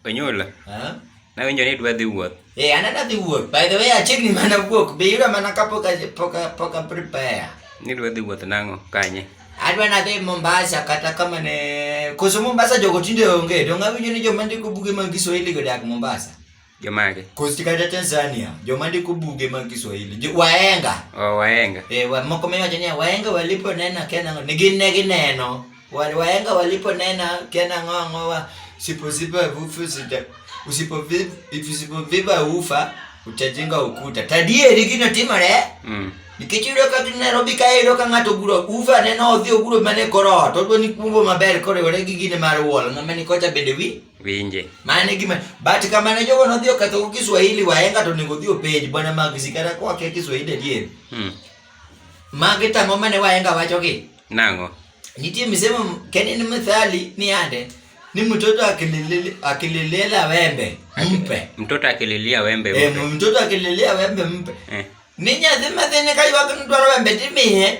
Onyula. Huh? Nawinjo ni dwa dhi wuoth. Eh, an adwa dhi wuoth. By the way, achiegni mana wuok. Be yuda mana ka pok pok pok prepare. Ni dwa dhi wuoth nang'o kanye? Adwa nadhi Mombasa kata kama ne koso Mombasa jogo tinde onge. Donge awinjo ni joma ndiko buge mag Kiswahili godak Mombasa? Jomage. Kosti kata Tanzania, joma ndiko buge mag Kiswahili, jo- wahenga. Oh, wahenga. E, wa, moko miwacho niya wahenga waliponena kia nang'o ne gin ne gineno Wa- wahenga waliponena kia nang'o ang'o wa siposipa ufa sita usipovi- usipoviva ufa utajenga ukuta tadieri gino timore Mm. nikech iyudo ka gin Nairobi ka iyudo ka ng'ato oguro ufa neno odhi oguro mana e kor ot odwa ni kumbo maber koriwore gi gine mar wall ng'ama ni kocha bende wi winje mane gima but kamane jogo nodhi oketho Kiswahili wahenga to onego odhi openj bwana Magsi kata kwa kia Kiswahili adier hmm. magi tang'o mane wahenga wachogi nang'o nitie misemo keni ni mithali ni ande ni mtoto akililele akililela wembe mpe mtoto akililia wembe eh, mpe eh, mtoto akililia wembe mpe eh. ni nyathi mathini kaywak ni dwaro wembe timiye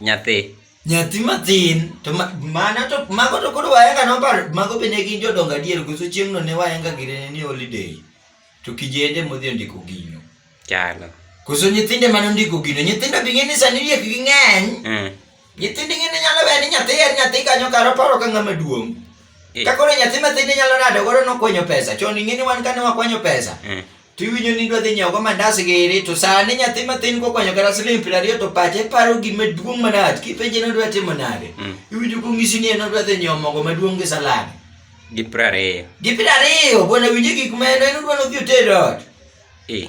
nyathi Nyathi mathin to mana to mago to koro waenga noparo mago be ne gin jodongo adier koso chieng'no ne waenga girene ni holiday to kijende modhi ondiko gino. Chalo. Koso nyithinde mane ondiko gino nyithindo bi ng'e ni sani riek gi ng'eny. Mm. Nyithindo ing'e ni nyalo weyo ni nyathi en nyathi kanyo karo paro ka ng'ama duong'. Eh. Ka koro nyathi mathin inyalo rado godo nokwanyo pesa chon ing'e ni wan kane wakwanyo pesa. Mm. to iwinjo ni idwa dhi nyiewogo mandas giri to sani nyathi mathin kokwanyo kata siling piero ariyo to pache paro gima duong' manach kipenje nodwa timo nade mm. iwinjo kong'isi ni en odwa dhi nyiewo mogo maduong' gi salad gi piero ariyo gi piero ariyo bwana winje gik ma en en odwa nodhi oted ot eh.